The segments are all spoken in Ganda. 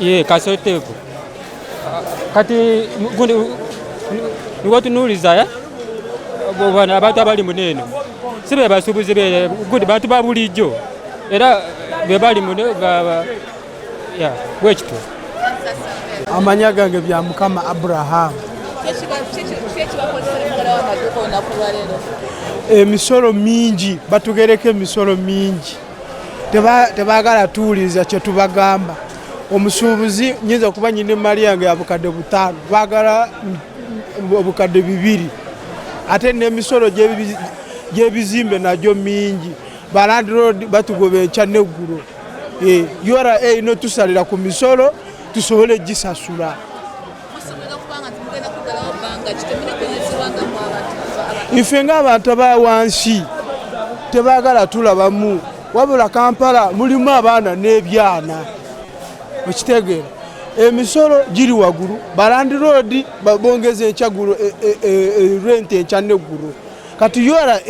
ye kasotevu kati gundi niko tunuliza eh? bwana abantu abali muneno si be basubuzi be gundi bantu babulijjo era be bali mune ya bwekito amanya gange bya mukama abraham emisolo mingi batugereko emisolo mingi tebaagala tuwuliriza kye tubagamba omusuubuzi nyinza okuba nyina emaali yange ya bukadde butaano baagala obukadde bibiri ate n'emisolo gy'ebizimbe nagyo mingi balandiroodi batugoba enkya n'eggulo eh, ura erina otusalira ku misolo tusobole gisasula ife ng'abantu abawansi tebagala tulabamu wabula kampala mulimu abaana n'ebyana okitegeera emisolo giri wagulu balandiroodi babongeza enkyagulo e, e, e, rent enkya neggulu kati ura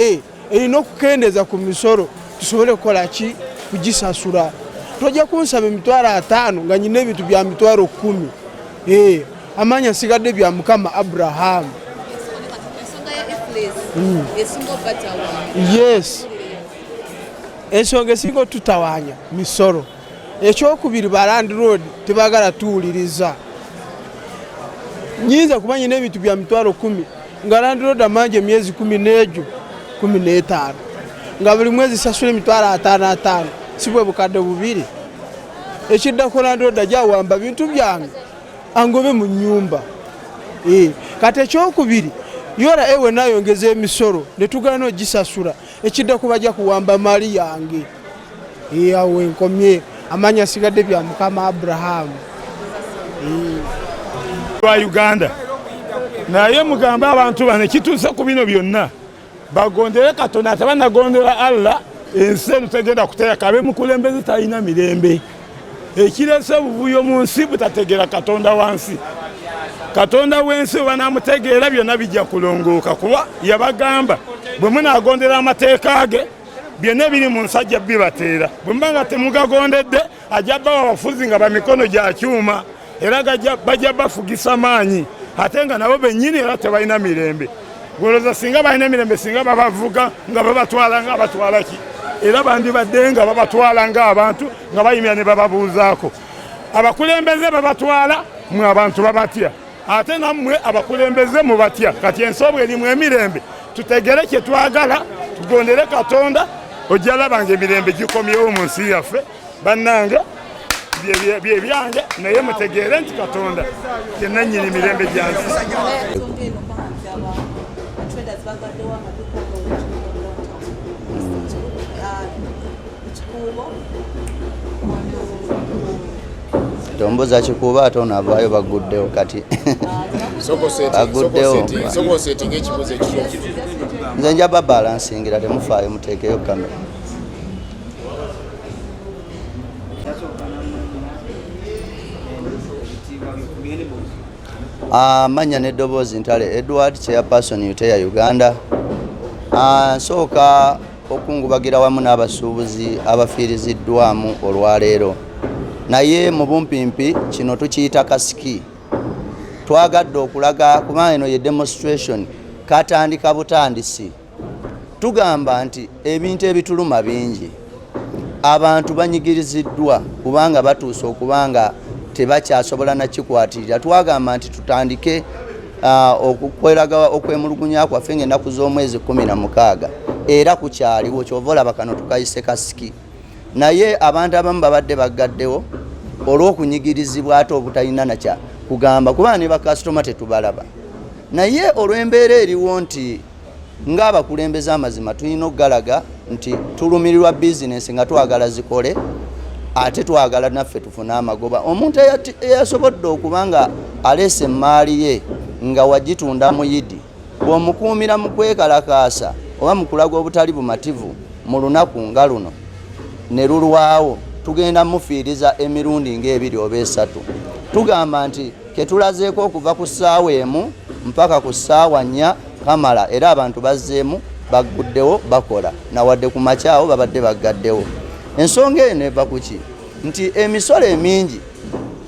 erina okukendeeza ku misolo tusobole kukola ki kugisasula tojja kunsaba emitwalo ataano nga nyina ebintu bya mitwalo kumi eh, amaanyi asigadde bya mukama abrahamu hmm. yes ensonga esinga otutawanya misolo ekyokubiri ba landlord tebagala tuwuliriza nyinza kuba nyina ebintu bya mitwalo kumi nga landiroda manja emyezi kumi n'egyo kumi n'etaano nga buli mwezi sasula emitwalo ataano ataano si bwe bukadde bubiri ekiddako landiroda gyawamba bintu byange angobe mu nyumba eh, kati ekyokubiri ura ewe nayongeza emisolo netugana ogisasula ekidda ku bajja kuwamba mali yange eyawo enkomye amaanyi asigadde bya mukama abrahamu lwa uganda naye mugambe abantu bano ekituuse ku bino byonna bagondere katonda ate banagondera allah ensi eno tegenda kuteeka abemukulembeze talina mirembe ekirese obuvuyo mu nsi butategeera katonda wa nsi katonda w'ensi webanamutegeera byonna bijja kulongooka kuba yabagamba bwe munaagondera amateeka ge byonna ebiri mu nsi ajja bibateera bwe muba nga temugagondedde ajja bawa abafuzi nga bamikono gya kyuma era bajja bafugisa maanyi ate nga nabo bennyini era tebalina mirembe goloza singa balina emirembe singa babavuga nga babatwala nga batwala ki era bandibadde nga babatwala nga abantu nga bayimira ne bababuuzaako abakulembeze babatwala mwe abantu babatya ate nammwe abakulembeze mubatya kati ensobo erimu emirembe tutegere kye twagala tugondere katonda ojja laba nga emirembe gikomyewo mu nsi yaffe bannange byebyange naye mutegeere nti katonda yenanyini mirembe gyansi tombuza kikuuba ate ono avaayo baguddewo kati baguddewo nze nja babalansingira temufaayo muteekeyo kamera amannya ah, n'eddoboozi ntale edward chairperson uteya uganda ah, nsooka okungubagira wamu n'abasuubuzi abafiiriziddwamu olwaleero naye mu bumpimpi kino tukiyita kasiki twagadde okulaga kuba eno ye demonstration katandika butandisi tugamba nti ebintu ebituluma bingi abantu banyigiriziddwa kubanga batuuse okuba nga tebakyasobola nakikwatirira twagamba nti tutandike uh, okukweraga okwemulugunya kwaffe ngaenaku z'omwezi kumi na mukaaga era kukyaliwo kyova olaba kano tukayise kasiki naye abantu abamu babadde baggaddewo olw'okunyigirizibwa ate obutalina nakya kugamba kubanga ne bakasitoma tetubalaba naye olw'embeera eriwo nti ng'abakulembeze amazima tulina okugalaga nti tulumirirwa bizinensi nga twagala zikole ate twagala naffe tufune amagoba omuntu eyasobodde okuba nga aleese emmaali ye nga wagitunda muyidi bw'omukuumira mu kwekalakaasa oba mu kulaga obutali bumativu mu lunaku nga luno ne lulwawo tugenda mufiiriza emirundi ng'ebiri oba esatu tugamba nti ketulazeeko okuva ku ssaawa emu mpaka ku ssaawa nnya kamala era abantu bazzeemu bagguddewo bakola nawadde ku makyawo babadde baggaddewo ensonga eno eva ku ki nti emisolo emingi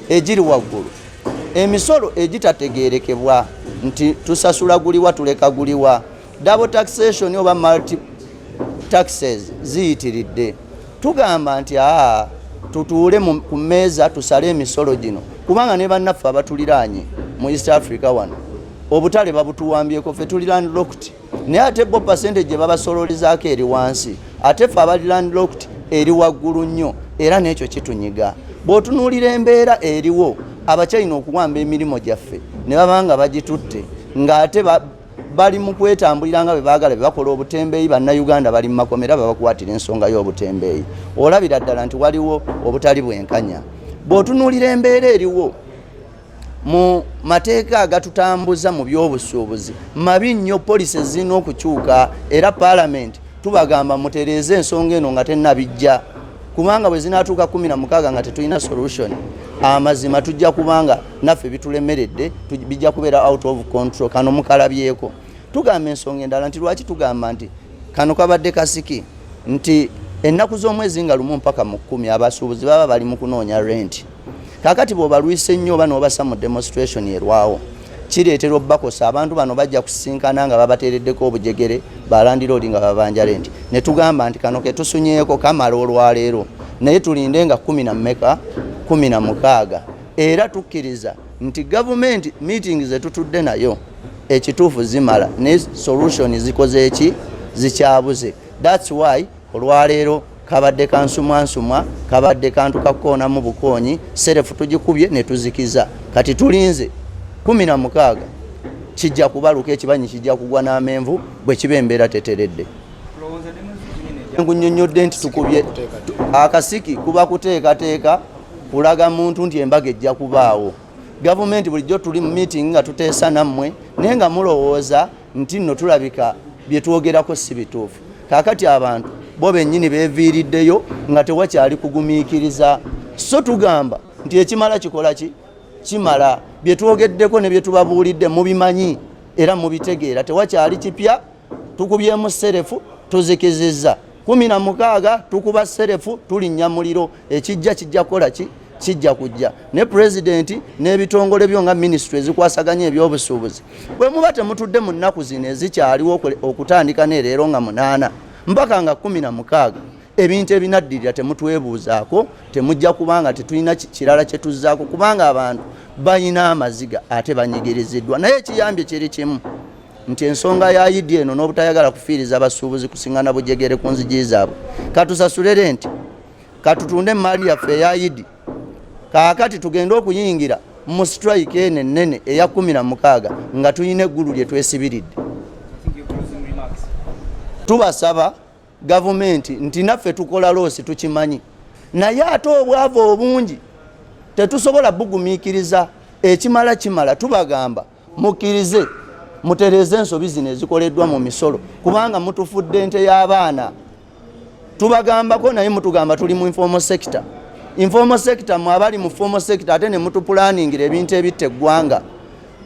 egiri waggulu emisolo egitategeerekebwa nti tusasula guliwa tuleka guliwa Double taxation oba multi taxes ziyitiridde. Tugamba nti aa tutuule ku mmeeza tusale emisolo gino kubanga ne bannaffe abatuliraanye mu East Africa wano obutale babutuwambyeko ffe tuli landlocked naye ate bo pasente gye babasololezaako eri wansi ate ffe abali landlocked eri waggulu nnyo era n'ekyo kitunyiga bw'otunuulira embeera eriwo abakyalina okuwamba emirimu gyaffe ne baba nga bagitutte ng'ate bali mu kwetambulira nga bwe baagala bye bakola obutembeeyi bannayuganda bali mu makomera babakwatira ensonga y'obutembeeyi olabira ddala nti waliwo obutali bwenkanya bw'otunuulira embeera eriwo mu mateeka agatutambuza mu by'obusuubuzi mabi nnyo polisi ezirina okukyuka era paalamenti tubagamba mutereeze ensonga eno nga tenabijja kubanga bwe zinaatuuka kumi na mukaaga nga tetulina solution amazima tujja kubanga naffe bitulemeredde bijja kubeera out of control kano mukalabyeko tugamba ensonga endala nti lwaki tugamba nti kano kabadde kasiki nti ennaku z'omwezi nga lumu mpaka mu kkumi abasuubuzi baba bali mu kunoonya renti kakati bwobalwise nnyo oba nobasa mu demonstration erwawo kireetera obubakosa abantu bano bajja kusisinkana nga babateereddeko obujegere balandira oli nga babanja renti ne tugamba nti kano ketusunyeeko kamala olwaleero naye tulinde nga kumi na mmeka kumi na mukaaga era tukkiriza nti gavumenti meeting zetutudde nayo ekituufu zimala ne solution zikoze eki zikyabuze thats why olwaleero kabadde kansumwansumwa kabadde kantu kakukoonamu bukoonyi serefu tugikubye netuzikiza kati tulinze kumi na mukaaga kijja kubaluka ekibanyi kijja kugwa n'amenvu bwe kiba embeera teteredde nkunyonyodde nti tukubye akasiki kuba kuteekateeka kulaga muntu nti embaga ejja kubaawo gavumenti bulijjo tuli mu meeting nga tuteesa nammwe naye nga mulowooza nti nno tulabika bye twogerako si bituufu kaakati abantu bo bennyini beeviiriddeyo nga tewakyali kugumiikiriza so tugamba nti ekimala kikola ki kimala bye twogeddeko ne bye tubabuulidde mubimanyi era mubitegeera tewakyali kipya tukubyemu serefu tuzikizizza kumi na mukaaga tukuba serefu tulinnya muliro ekijja kijja kukola ki kijja kujja ne pulezidenti n'ebitongole byo nga minisitule ezikwasaganya ebyobusuubuzi bwe muba temutudde mu nnaku zino ezikyaliwo okutandika nereero nga munaana mpaka nga kumi na mukaaga ebintu ebinaddirira temutwebuuzaako temujja kubanga tetulina kirala kye tuzzaako kubanga abantu balina amaziga ate banyigiriziddwa naye ekiyambye kiri kimu nti ensonga ya idi eno n'obutayagala kufiiriza abasuubuzi kusiŋana bujegere ku nzigi zaabwe katusasule renti katutunde emmaali yaffe eya idi kaakati tugende okuyingira mu sitrayika eno ennene eya kumi na mukaaga nga tulina eggulu lye twesibiridde tubasaba gavumenti nti naffe tukola loosi tukimanyi naye ate obwava obungi tetusobola bugumiikiriza ekimala kimala tubagamba mukkirize mutereeze ensobi zino ezikoleddwa mu misolo kubanga mutufudde nte y'abaana tubagambako naye mutugamba tuli mu informal sector informal sector mwe abali mu formal sector ate ne mutupulaningira ebintu ebitta eggwanga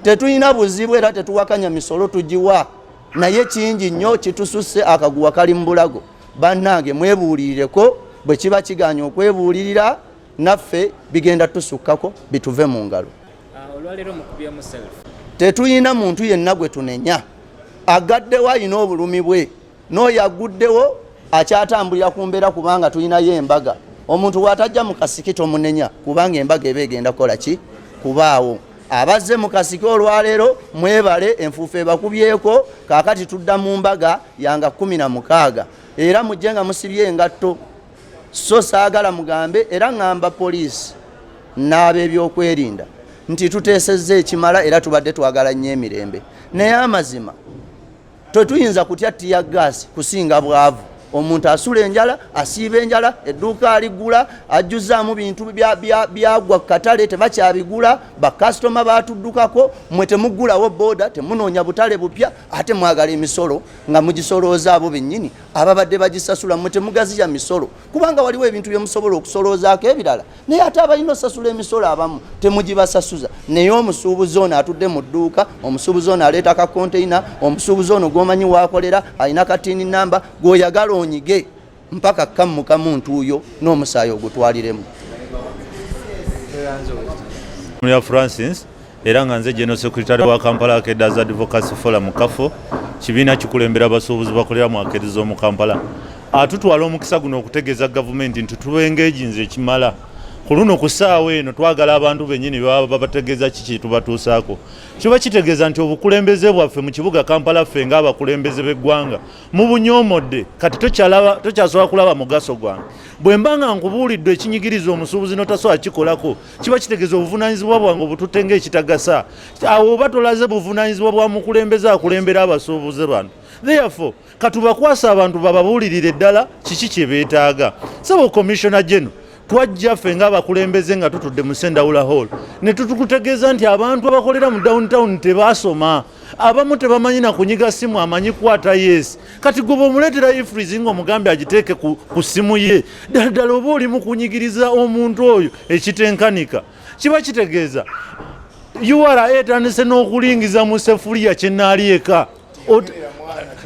tetulina buzibu era tetuwakanya misolo tugiwa naye kingi nnyo kitususse akaguwa kali mu bulago bannange mwebuulirireko bwe kiba kiganya okwebuulirira naffe bigenda tusukkako bituve mu ngalo ah, tetuyina muntu yenna gwe tunenya agaddewo alina obulumi bwe n'oyo aguddewo akyatambulira ku mbeera kubanga tulinayo embaga omuntu bw'atajja mu kasiki tomunenya kubanga embaga eba egenda kukola ki kubaawo abazze mu kasiki olwaleero mwebale enfuufu ebakubyeko kaakati tudda mu mbaga yanga kumi na mukaaga era mujje nga musibye engatto so saagala mugambe era ŋŋamba poliisi n'ab'ebyokwerinda nti tuteesezza ekimala era tubadde twagala nnyo emirembe naye amazima tetuyinza kutya tiya gaasi kusinga bwavu omuntu asula enjala asiiba enjala edduuka aligula ajjuzaamu bintu byagwa ku katale tebakyabigula bakasitoma batuddukako mwe temuggulawo booda temunoonya butale bupya ate mwagala emisolo nga mugisolooza abo bennyini ababadde bagisasula mwe temugaziya misolo kubanga waliwo ebintu byemusobola okusoloozaako ebirala naye ate abalina osasula emisolo abamu temugibasasuza naye omusuubuzi ono atudde mu dduuka omusuubuzi ono aleeta ka konteina omusuubuzi ono gwomanyi waakolera alina katini namba gwoyagala onyige mpaka kammuka muntu uyo n'omusaayi ogutwaliremu Francis era nga nze general secretary wa kampala akedas advocacy forum kafo kibiina kikulembera abasuubuzi bakolera mu akedi z'omu kampala atutwala omukisa guno okutegeeza gavumenti nti tubengeejinza ekimala ku luno ku ssaawa eno twagala abantu bennyini baba babategeeza ki kyetubatuusaako kiba kitegeeza nti obukulembeze bwaffe mu kibuga kampala ffe ngaabakulembeze b'eggwanga mubunyomodde kati tokyasobola kulaba mugaso gwange bwe mba nga nkubuulidde ekinyigiriza omusuubuzi notasobola kikolako kiba kitegeeza obuvunanyizibwa bwange obututte ngaekitagasa awo oba tolaze buvunanyizibwa bwa mukulembeze akulembera abasuubuze bano therefore katubakwasa abantu bababuulirire ddala kiki kye beetaaga saba commissiona geno twajja ffe ngaabakulembeze nga tutudde mu sendawula hall ne tutukutegeeza nti abantu abakolera mu downtown tebaasoma abamu tebamanyi nakunyiga simu amanyi kwata yes kati goba omuletera ifrizi nga omugambe agiteeke ku, ku simu ye ddala ddala oba oli mukunyigiriza omuntu oyo ekitenkanika kiba kitegeeza ura etandise n'okulingiza mu sefuliya kyenaali eka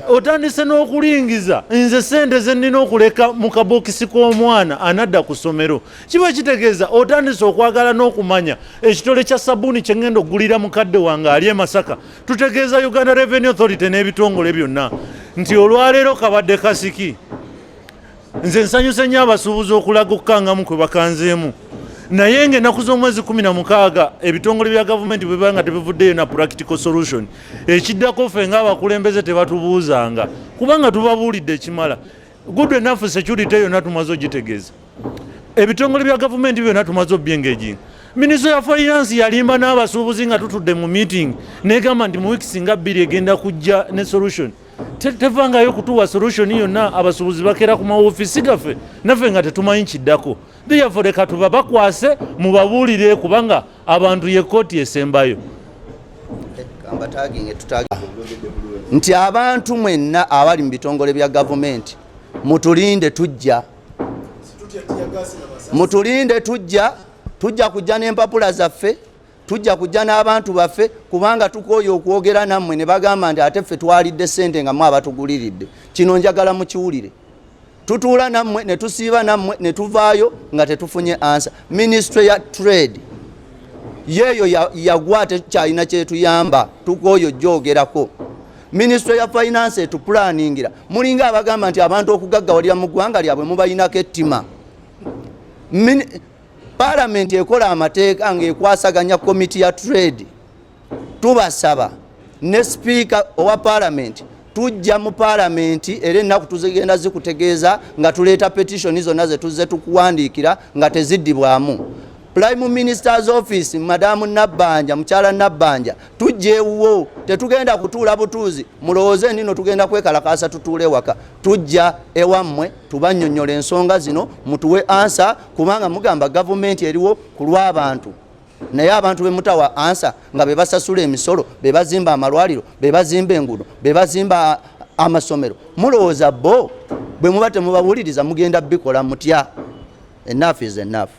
otandise n'okulingiza nze sente zenina okuleka mu kabokisi k'omwana anadda ku ssomero kiba kitegeeza otandise okwagala n'okumanya ekitole kya sabuuni kye ŋŋenda okugulira mukadde wange ali e masaka tutegeeza uganda revenue authority n'ebitongole byonna nti olwaleero kabadde kasiki nze nsanyuse nnyo abasuubuzi okulaga okukangamu kwe bakanzeemu naye nga ennaku z'omwezi 16 ebitongole bya gavumenti bwe biba nga tebivuddeyo na practical solution ekiddako ffe ng'abakulembeze tebatubuuzanga kubanga tubabuulidde ekimala good enough security yona tumaze ogitegeeza ebitongole bya gavumenti byona tumaze obyengejinga minisita ya finance yalimba n'abasuubuzi nga tutudde mu meeting negamba nti mu weeks nga bbiri egenda kujja ne solution tevangayo kutuwa solution yonna abasuubuzi bakera ku mawofiisi gaffe naffe nga tetumanyi kiddako theyafore katuba bakwase mubabuulire kubanga abantu ye kkooti esembayo nti abantu mwenna abali mu bitongole bya gavumenti mutulinde tujja mutulinde tujja tujja kujja n'empapula zaffe tujja kujja n'abantu baffe kubanga tukooye okwogera nammwe ne bagamba nti ate ffe twalidde ssente nga mwe abatuguliridde kino njagala mukiwulire tutuula nammwe ne tusiiba nammwe ne tuvaayo nga tetufunye ansa minisitule ya trade yeeyo yagwa tekyalina kyetuyamba tukooyo joogerako minisitule ya finance etupulaningira mulinga abagamba nti abantu okugaggawalira mu ggwanga lyabwe mubalinako ettima palamenti ekola amateeka ngaekwasaganya komiti ya trade tubasaba ne sipiika owa paalamenti tujja mu paalamenti era ennaku tuzigenda zikutegeeza nga tuleeta petitioni zonna ze tuzze tukuwandiikira nga teziddibwamu prime minister's office madamu nabbanja mukyala nabbanja tujja ewuwo tetugenda kutuula butuuzi mulowooze nino tugenda kwekalakaasa tutuula ewaka tujja ewammwe tubanyonyola ensonga zino mutuwe ansa kubanga mugamba gavumenti eriwo ku lw'abantu naye abantu bemutawa ansa nga bebasasula emisolo bebazimba amalwaliro bebazimba engudo bebazimba amasomero mulowooza bo bwe muba temubawuliriza mugenda bikola mutya enafu is enafu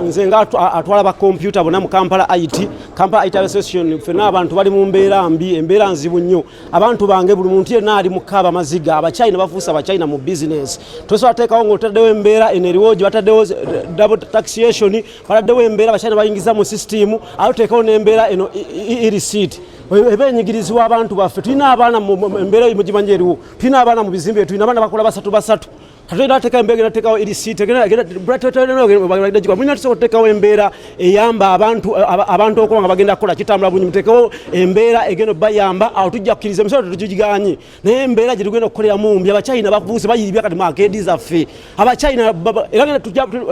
nze nga atwala ba kompyuta bona mu kampala it kampala it association fena abantu bali mu mbeera mbi embeera nzibu nnyo abantu bange buli muntu yenna ali mukaaba maziga abachina bafuusa abachina mu bizinesi tosobola teekawo ngaotaddewo embeera eno eriwo gye bataddewo eh, double taxation bataddewo embeera abachina bayingiza mu sisitimu ate oteekawo n'embeera eno irisiiti eba enyigirizibwa abantu baffe tulina abaana embeera mugimanyi eriwo tulina abaana mu bizimbe tulina abaana bakola basatu basatu Kati nateeka embeera genda teekawo erisiiti mulina tusobola oteekawo embeera eyamba abantu abantu okuba nga bagenda kukola kitambula bulungi muteekewo embeera egenda bayamba awo tujja kukkiriza emisolo tetugiganyi naye embeera gye tugenda okukoleramu mbi abachina bakubuuse bayiibya kati makeedi zaffe abachina era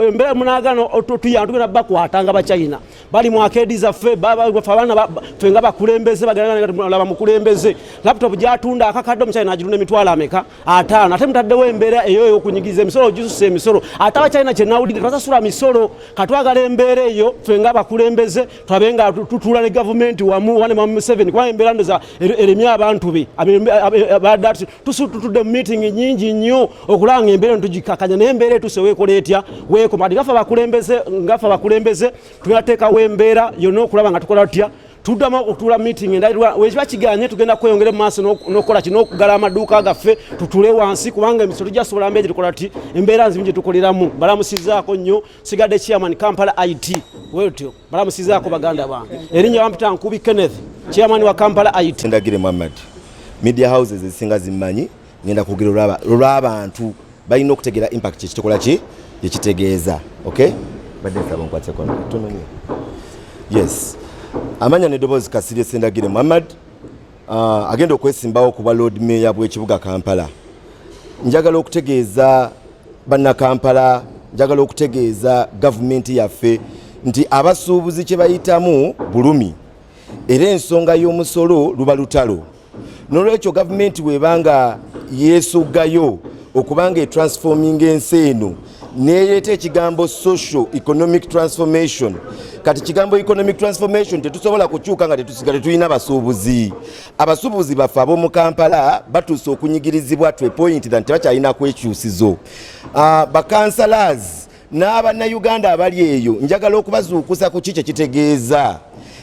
embeera munagana tuyamba tugenda bakwata nga abachina bali mu akeedi zaffe bafe abaana fe nga bakulembeze bagalaba mukulembeze laptop gyatunda akakadde omuchina agirunda emitwalo ameka ataano ate mutaddewo embeera eyo eyokunyigiza emisolo gisusa emisolo ate abakyalina kyenawulidde tebasasula misolo katwagala embeera eyo fe nga abakulembeze twabe nga tutuula ne gavumenti wamu wane mama museveni kuba embeera ndoza er, eremye abantu be badatu tutudde mu miitingi nyingi nnyo okulaba nga embeera ntugikakanya naye embeera etuse weekola etya weekoma ati gafe abakulembeze ngafe abakulembeze tunateekawo embeera yonna okulaba nga tukola tutya tuddamu okutuula meeting endalirwa wekiba kiganye tugenda kweyongera mu maaso n'okukola kino okugala amaduuka gaffe tutule wansi kubanga emisolo gyasobola mbeera gyetukola ti embeera nzimu gyetukoleramu balamusizaako nnyo sigadde chairman kampala it wetyo balamusizaako baganda bange erinnya bampita nkubi kenneth chairman wa kampala it ndagire muhammad media houses ezisinga zimmanyi ngenda kwogera olwaba olwabantu balina okutegeera impact kyekitokola ki ekitegeeza okay badde nsaba nkwateko tononye yes amanya nedoboozi kasirye sendagire muhammad uh, agenda okwesimbawo ku bwa lord mayor bw'ekibuga kampala njagala okutegeeza bannakampala njagala okutegeeza gavumenti yaffe nti abasuubuzi kye bayitamu bulumi era ensonga y'omusolo luba lutalo nolwekyo gavumenti weba nga yesogayo okubanga etransforminga ensi eno nereeta ekigambo social economic transformation kati kigambo economic transformation tetusobola kukyuka nga tetusigale tulina abasuubuzi abasuubuzi baffe ab'omu kampala batuuse okunyigirizibwa to a point than tebakyalina kwekyusizo uh, ah, bakansalaazi N'abannayuganda abali eyo njagala okubazuukusa ku ki kye kitegeeza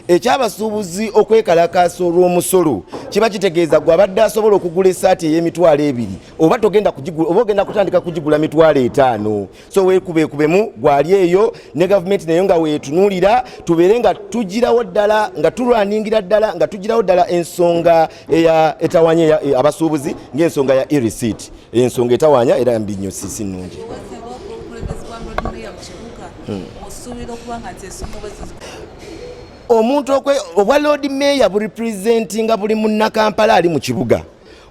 eky'abasuubuzi okwekalakaasa olw'omusolo kiba kitegeeza gwe abadde asobola okugula esaati ey'emitwalo ebiri oba togenda kugigula oba ogenda kutandika kugigula mitwalo etaano so weekubeekubemu gwali eyo ne gavumenti nayo nga weetunuulira tubeere nga tugirawo ddala nga tulwaningira ddala nga tugirawo ddala ensonga eya etawanya e, abasuubuzi ng'ensonga ya e-receipt ensonga etawanya era mbi nnyo sisi nnungi hmm. omuntu obwa lord mayor burepresentinga buli munnakampala ali mu kibuga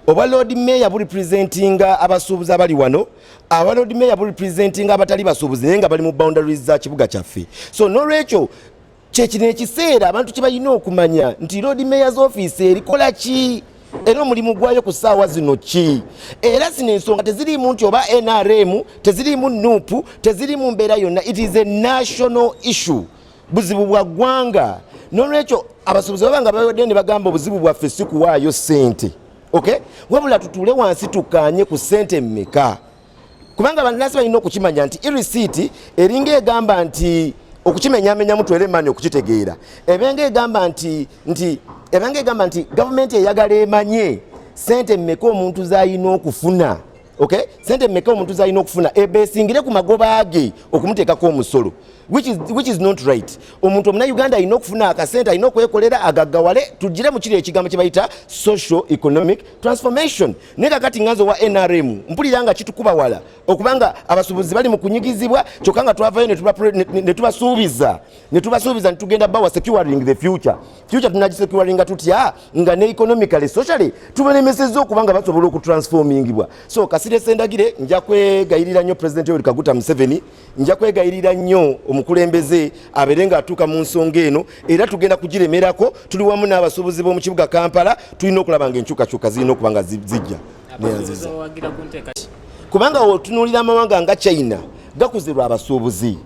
obwa lord mayor burepresentinga abasuubuzi abali wano aba lord mayor burepresentinga abatali basuubuzi naye nga bali mu boundaries za kibuga kyaffe so nolwekyo kyekino ekiseera abantu kyebalina okumanya nti lord mayors office erikola ki era omulimu gwayo ku saawa zino ki era zino ensonga teziriimu nti oba nrm teziriimu nup teziriimu mbeera yonna it is a national issue buzibu bwa ggwanga nolwekyo abasuubuzi baba nga bawadde ne bagamba obuzibu bwaffe si kuwaayo ssente okay wabula tutuule wansi tukkaanye ku ssente mmeka kubanga abantu nasi balina okukimanya nti irisiiti eringa egamba nti okukimenyamenyamu twere emani okukitegeera ebenga egamba nti nti ebenga egamba nti gavumenti eyagala emanye sente mmeka omuntu zalina okufuna okay sente mmeka omuntu zalina okufuna ebesingire ku magoba ge okumuteekako omusolo which is, which is not right omuntu omuna uganda alina okufuna akasente alina okwekolera agaggawale tugire mu kiri ekigambo kye bayita social economic transformation naye kakati nganze owa nrm mpulira nga kitukuba wala okubanga abasubuzi bali mu kunyigizibwa kyokka nga twavayo netubasuubiza netubasuubiza nitugenda bawa securing the future future tunagisecuringa tutya nga ne economically socially tubalemesezza okuba nga basobola okutransformingibwa so kasirese ndagire nja kwegayirira nnyo president yoweri kaguta museveni nja kwegayirira nnyo omukulembeze abeere ng'atuuka mu nsonga eno era tugenda kugiremerako tuli wamu n'abasuubuzi b'omu kibuga kampala tulina okulaba nga enkyukakyuka zirina okuba nga zijja neyanziza kubanga otunuulira amawanga nga china gakuze lwa abasuubuzi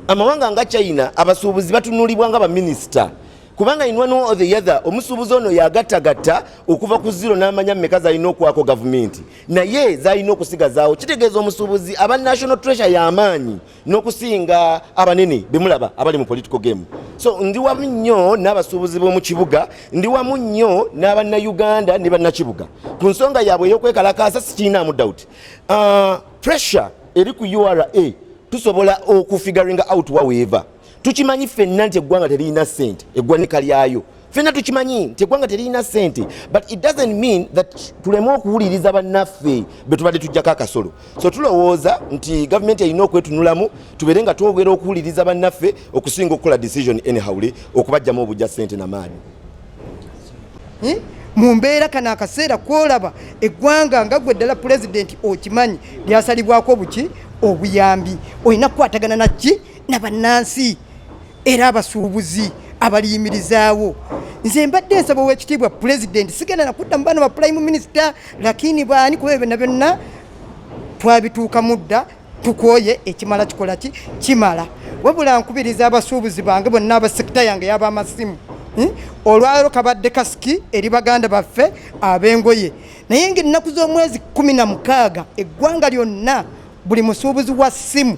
amawanga nga china abasuubuzi batunuulibwa nga baminisita kubanga in one or the other omusuubuzi ono yagattagatta okuva ku ziro n'amanya mumeka zalina okwako gavumenti naye zalina okusigazaawo kitegeeza omusuubuzi aba national treasure yamaanyi n'okusinga abanene bemulaba abali mu political game so ndi wamu nnyo n'abasuubuzi b'omu kibuga ndi wamu nnyo n'abannayuganda ne bannakibuga ku nsonga yaabwe ey'okwekalakaasa sikiinaamu doubt uh, pressure eri ku ura tusobola okufigaringa out waweeva tukimanyi fenna nti eggwanga teririna sente eggwanika lyayo fenna tukimanyi nti eggwanga teririna sente but it doesn't mean that tuleme okuwuliriza bannaffe betubadde tujjako akasolo so tulowooza nti gavumenti erina okwetunulamu tubeere nga twogera okuwuliriza bannaffe okusinga okukola decision anyhowly okubajjamu obujja sente namaani eh? mu mbeera kano akaseera kwolaba eggwanga nga gwe ddala pulezidenti okimanyi lyasalibwako buki obuyambi olina kukwatagana nakki na bannansi era abasuubuzi abaliyimirizaawo nze mbadde nsaba owekitiibwa pulezidenti sigenda nakudda mu baana ba pulayimu minisita lakini baani kuba byonna byonna twabituukamu dda tukwoye ekimala kikola ki kimala wabula nkubiriza abasuubuzi bange bonna abasekita yange yaba amasimu hmm? olwalero kabadde kasiki eri baganda baffe ab'engoye naye ngaennaku z'omwezi kumi na mukaaga eggwanga lyonna buli musuubuzi wa simu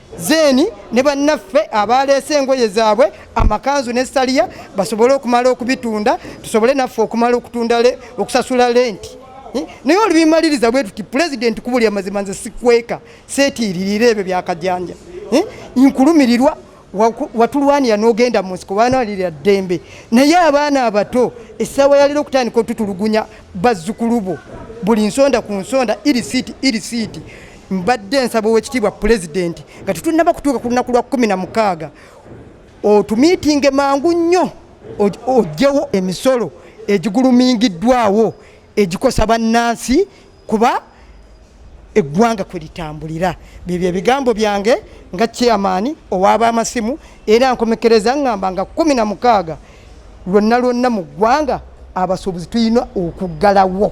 zeeni ne bannaffe abaaleese engoye zaabwe amakanzu ne saliya basobole okumala okubitunda tusobole naffe okumala okutunda okusasula lenti eh, naye olubimaliriza bwe tuti pulezidenti kubuli amazima nze sikweka seetiiririra ebyo byakajanja eh, nkulumirirwa watulwanira n'ogenda mu nsiko banalirira ddembe naye abaana abato essaawa yalira okutandika otutulugunya bazzukulu bo buli nsonda ku nsonda iri siiti iri siiti Mbadde nsaba owekitiibwa pulezidenti nga tetunnaba kutuuka ku lunaku lwa kumi na mukaaga otumiitinge mangu nnyo ojjewo emisolo egigulumingiddwawo egikosa bannansi kuba eggwanga kwe litambulira byebyo ebigambo byange nga chairman owaaba amasimu era nkomekereza ngamba nga kumi na mukaaga lwonna lwonna mu ggwanga abasuubuzi tulina okuggalawo